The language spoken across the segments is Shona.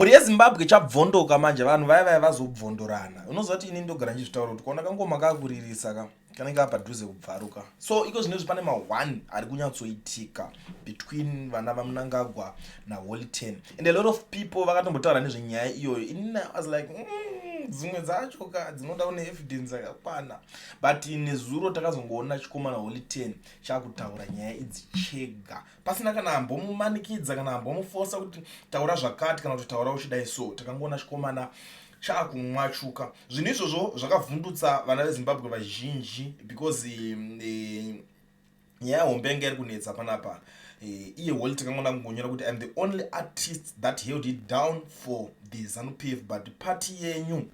mhuri yezimbabwe chabvondoka manje vanhu vaya vaya vazobvondorana unoziva kuti ini ndogara ndichizvitaura kuti kuona kangoma kakuririsa ka kanenge kapadhuze kubvaruka so iko zvinezvi pane ma-one ari kunyatsoitika between vana vamunangagwa naholy ten and a lot of people vakatombotaura nezvenyaya iyoyo ini i was like mm, dzimwe dzacho ka dzinoda une evidence yakakwana but nezuro takazongoona chikomana holy ten chakutaura nyaya idzi chega pasina kana ambomumanikidza kana ambomufosa kuti taura zvakati kana kuti taura uchidai so takangoona chikomana chaakumwachuka zvinhu izvozvo zvakavhundutsa vana vezimbabwe vazhinji because um, eh, nyaya um, hombe yanga iri kunetsa panapa eh, iye uh, holy takangoona kungonyora kuti im the only artist that held it down for the zanupf but party yenyu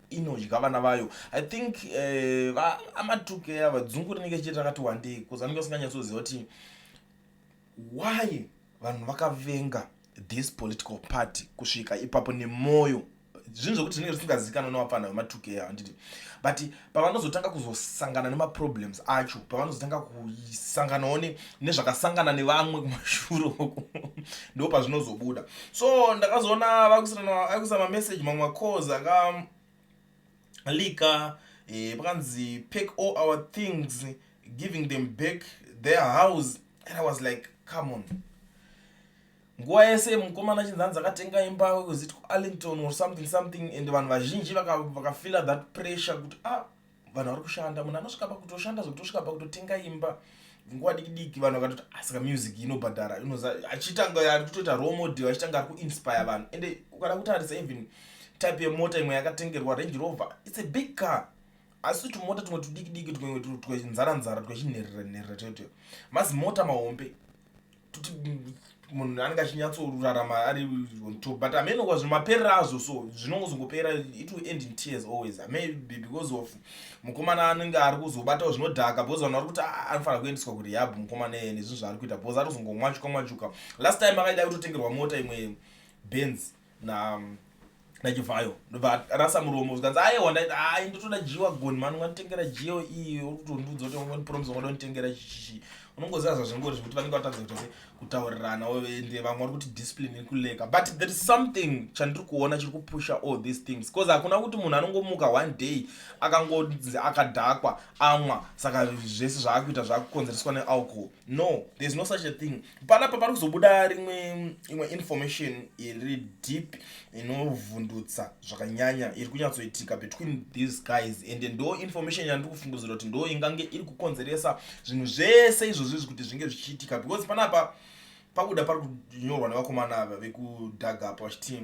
inodya vana vayo i think eh, amatuke ava dzungu rinenge chete rakati wandei bcause anenge asinganyatsoziva kuti why vanhu vakavenga this political party kusvika ipapo nemwoyo zvinhu zvekuti zvinenge zvisingazivikanwa nevapfana vematuke ava handiti but pavanozotanga kuzosangana nemaproblems acho pavanozotanga kusanganawo ne nezvakasangana nevamwe kumashuro uku ndo pazvinozobuda so ndakazoona vakuisa mameseji mamwe macalls aka lika eh, pakanzi pack all our things giving them back their house and i was like come on nguva yese mukomana chinzanzi akatenga imba wekuziti kuarlington or something something and vanhu vazhinji vakafila vaka that pressure kuti ah vanhu vari kushanda munhu anosvika pakutoshanda zvekutosvika pakutotenga imba nguva diki diki vanhu vakatoti asika ah, music inobhadhara inoza achitanga ari kutoita role model achitanga ari kuinspire vanhu ende ukada kutarisa even type yemota imwe yakatengerwa range rover its a big car asi tumota tumwe tudiki diki tweinzara nzara twechinherera nherera toito mazimota mahombe kuti munhu anenge achinyatsorarama ari on top but ameno kwazvo maperera azvo so zvinongozongopera it will end in tears always maybe because of mukomana anenge ari kuzobatawo zvinodhaka because vanhu vari kuti ah, anofanira kuendeswa kurehab mukomana iyeye nezvinhu zvaari kuita because atozongomwachuka mwachuka last time akaida kutotengerwa mota imwe benz na nachivhayo ndobva rasa muromo zvikanzi ayewa ndaiti ai ndotoda jiwa goni mani unganditengera jiyo iyi uri kutondiudza kuti ungondipromise ungada kunditengera chichichi unongoziva zvazvingori zvekuti vanenge vatadza kuita se kutaurirana ende vamwe vari kuti discipline iri kuleka but there is something chandiri kuona chiri kupusha all these things because hakuna kuti munhu anongomuka one day akangonzi akadhakwa amwa saka zvese zvaakuita zvaakukonzereswa nealcohol no there's no such a thing panapa pari kuzobuda rimwe imwe information iri deep inovhundutsa zvakanyanya iri kunyatsoitika between these guys and ndo information yandiri kufungudzira kuti ndo ingange iri kukonzeresa zvinhu zvese izvozvo izvi kuti zvinge zvichiitika because panapa pakuda pari kunyorwa nevakomana ava vekudhagapa vachiti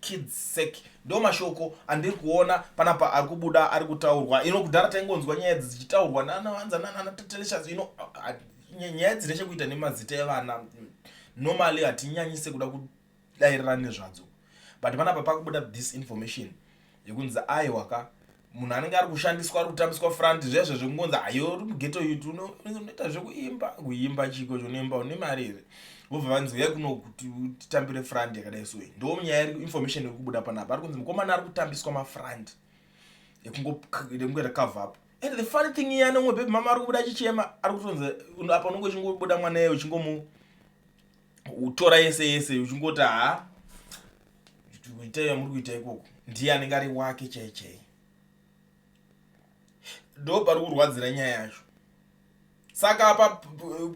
kids sake ndo mashoko andiri kuona panapa ari kubuda ari kutaurwa ino kudhara taingonzwa nyaya idzi dzichitaurwa nanawanza nananatateleshas ino nyaya dzine chekuita nemazita evana normally hatinyanyise kuda kudairira nezvadzo but panapa pakubuda this information yekunzi aiwaka munhu anenge ari kushandiswa ari kutambiswa front zvezvo zvekungonzi ayo uri mugeto yuti unoita zvekuimba kuimba chiko chonoimba une mari here vobva vanzi uya kuno kuti utitambire front yakadai so ndo nyaya iri information iri kubuda panapa ari kunzi mukomana ari kutambiswa mafront ekungoita cover up and the funny thing iye anomwe bebe mama ari kubuda achichema ari kutonzi apa unonge uchingobuda mwana iye uchingomu utora yese yese uchingoti ha itai yamuri kuita ikoko ndiye anenge ari wake chai chai ndo pari kurwadzira nyaya yacho saka apa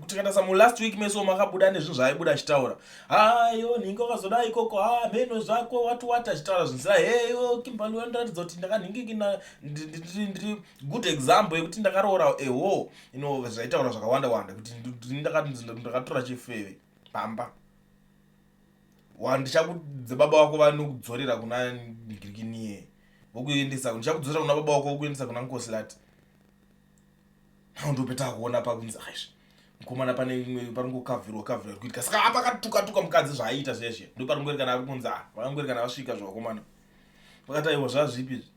tikatasa mulast week meso makabuda nezvinhu zvaaibuda achitaura hayo nhingi wakazoda ikoko ha mheno zvako wati wati achitaura zvinsira heyo kimbandiwandiratidza kuti ndakanhingiki ndiri good example yekuti ndakaroora eho ino zvaitaura zvakawanda wanda kuti ndakatora chifeve pamba wandichakudze baba wako vanokudzorera kuna ndikirikiniye vokuendesa ndichakudzorera kuna baba wako vokuendesa kuna nkosilati ndopeta kuona pakunzi aizvi mukomana pane imwe paringokavhirwa kavhirwa kuitika saka apakatukatuka mukadzi zvaaiita zveshe ndoparingoerekana akunzi a vakangoerekana vasvika zvevakomana vakati aiwa zvazvipi izvi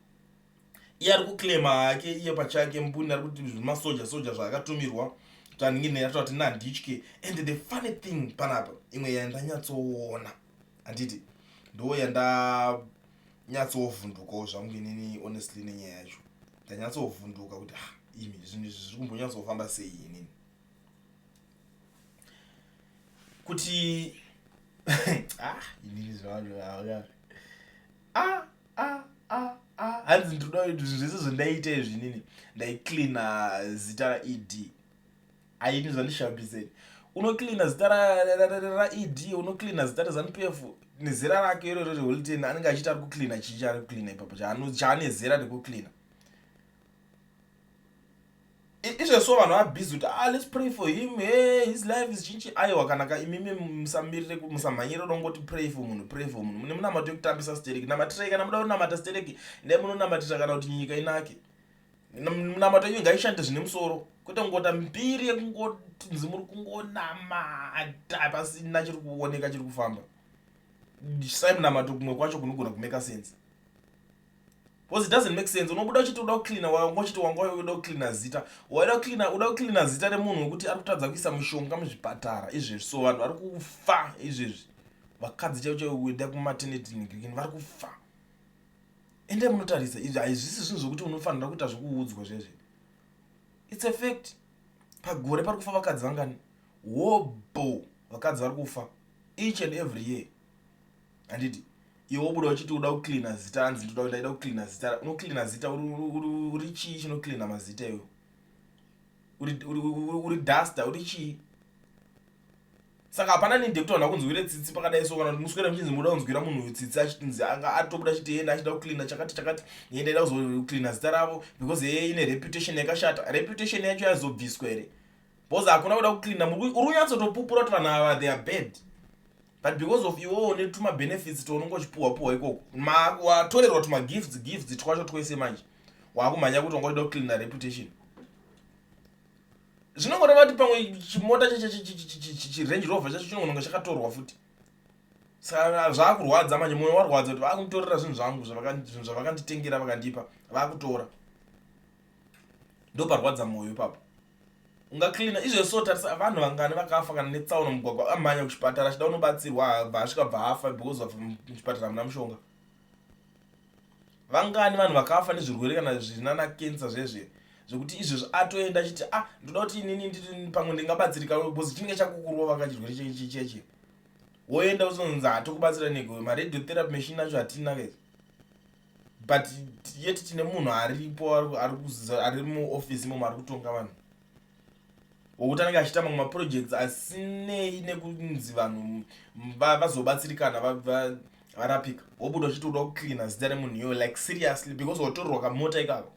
iye ari kuclaima hake iye pachake mbuni ari kuti zvimasoja soja zvaakatumirwa taningine yatova tini handitye and the funny thing panapa imwe yandanyatsoona handiti ndo yandanyatsovhundukawo zvangu inini honestly nenyaya yacho ndanyatsovhunduka kuti ha ah, imi zvinhu izvi zviri kumbonyatsofamba sei inini kuti ah, inini zvavanhu vaa ah, ah, ah, ah. hanzi ndinoda kuti zvinhu zvese zvandaita izvi nini ndaicleana zita raed aini zvandishabiseni unocleana zita raed unocleana zita rezanup f nezera rake iroro reholiten anenge achiita ari kucleana chii chaari kucleana ipapo chaane zera rekukleana izvezvo vanhu vabhizi kuti ah, let's pray for him hey, his life is chinchi aiwa kana ka imimi musamirire musamhanyire kuda kungoti pray for munhu pray for munhu mune munamato yekutambisa stereki namatirai kana muda kunamata stereki ndai munonamatira kana kuti nyika inake munamato yenyu ngaishande zvine musoro kwete kungota mbiri yekungotinzi muri kungonamata pasina chiri kuoneka chiri kufamba sai munamato kumwe kwacho kunogona kumeka sense Because it doesn't make sense. Unobuda uchiti uda kucleaner waya ungochiti wanga uda kucleaner zita. Waida kucleaner uda kucleaner zita remunhu wekuti ari kutadza kuisa mushonga muzvipatara izvezvi. So vanhu vari kufa izvezvi. Vakadzi chaivo chaivo kuenda kumaternity clinic vari kufa. Ende munotarisa izvi haizvisi zvinhu zvekuti unofanira kuita zvekuudzwa zvezvi. It's a fact. Pagore pari kufa vakadzi vangani? Wobho vakadzi vari kufa each and every year. handiti iwe wobuda uchiti uda kucleana zita hanzi ndoda kuti ndaida kucleana zita unocleana zita uri chii chinocleana mazita iwe uri duster uri chii saka hapana ninde kuti vanhu vakunzwire tsitsi pakadai so kana kuti muswera muchinzi muda kunzwira munhu uyu tsitsi achinzi anga atobuda chiti yena achida kucleana chakati chakati ye ndaida kuzocleana zita ravo because yeye ine reputation yakashata reputation yacho yaizobviswa here bcause hakuna kuda kucleana uri kunyatsotopupura kuti vanhu ava they are bad but because of iwowo netuma benefits tounonge uchipuhwa puhwa ikoko watorerwa tuma gifts gifts twacho twese manje wakumhanya kuti wanga uchida kucleana reputation zvinongoreva kuti pamwe chimota chirange rover chacho chinongononga chakatorwa futi saka zvaakurwadza manje mwoyo warwadza kuti vakunditorera zvinhu zvangu zvinhu zvavakanditengera vakandipa vakutora ndoparwadza mwoyo ipapo ungacleana izvezvi so tarisa vanhu vangani vakafa kana netsaona mugwagwa amhanya kuchipatara achida unobatsirwa abva asvika bva afa because of muchipatara muna mushonga vangani vanhu vakafa nezvirwere kana zvinana kensa zvezve zvekuti izvezvi atoenda achiti ah ndoda kuti inini ndii pamwe ndingabatsirika because chinenge chakukurwa vanga chirwere chechecheche woenda uzonzi hatokubatsira nego maredio therapy machine acho hatina kezi but yet tine munhu aripo ari kuziza ari muofisi imomo ari kutonga vanhu wokuti anenge achiita mamwe maprojects asinei nekunzi vanhu vazobatsirikana varapika wobuda uchiti uda kucleana zita remunhu iyoyo like seriously because watorerwa kamota ikako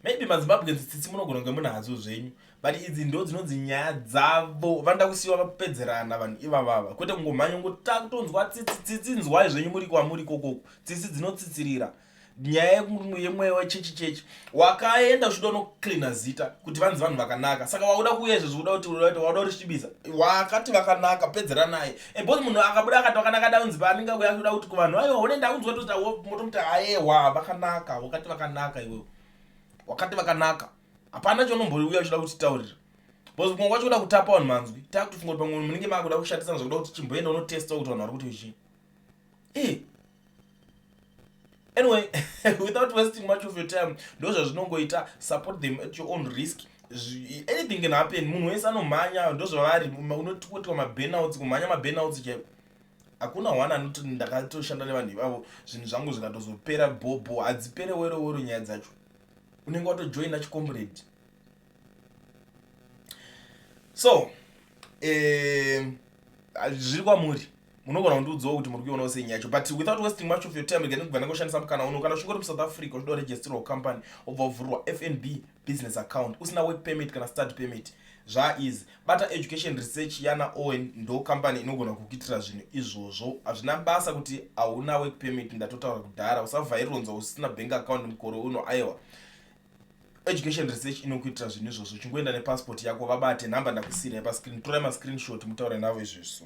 maybe mazimbabweans tsitsi munogona kunge muna hadzo zvenyu but idzi ndo dzinonzi nyaya dzavo vanoda kusiiwa vapedzerana vanhu ivavava kwete kungomhanya ngota kutonzwa tsitsi tsitsi nzwai zvenyu muri kwamuri kokoko tsitsi dzinotsitsirira nyaya yemweya wechechi chechi wakaenda uchida unocleana zita kuti vanzi vanhu vakanaka saka wakuda kuuya izvezvi uda kuti wakuda kuti svibiza wakati vakanaka pedzera naye ebos munhu akabuda akati wakanaka daunzi paanenge akuya kuda kuti kuvanhu aiwa one ndaunzwa toti motomuti aewa vakanaka wakati vakanaka iwewe wakati vakanaka hapana chonombouya uchida kuti taurira bcause kunga kwacho kuda kutapa vanhu manzwi takutofunga kuti pamwe munenge makuda kushatisana zvakuda kuti chimboenda unotesta kuti vanhu vari kuti vechii anyway without wasting much of your time ndo zvazvinongoita support them at your own risk anything can happen munhu wese anomhanya ndo zvavari unotipotiwa mabanouts kumhanya mabanouts chaivo hakuna one anoti ndakatoshanda nevanhu ivavo zvinhu zvangu zvikatozopera bhobho hadzipere werowero nyaya dzacho unenge watojoina chicomrade so eh, zviri kwamuri munogona kundiudzawo kuti muri kuionawo sei nyaya yacho but without wasting much of your time rega ndikugana kushandisa mukana uno kana uchingori musouth africa uchida kuregisterwa company obva wavhurirwa fnb business account usina work permit kana study permit zvaeasy bata education research yana owen ndo company inogona kukuitira zvinhu izvozvo hazvina basa kuti hauna work permit ndatotaura kudhara usavhaironzwa usina bank account mukore uno aiwa education research inokuitira zvinhu izvozvo chingoenda nepassport yako vabate nhamba ndakusiirai pascreen torai mascreenshot mutaure navo izvezvi so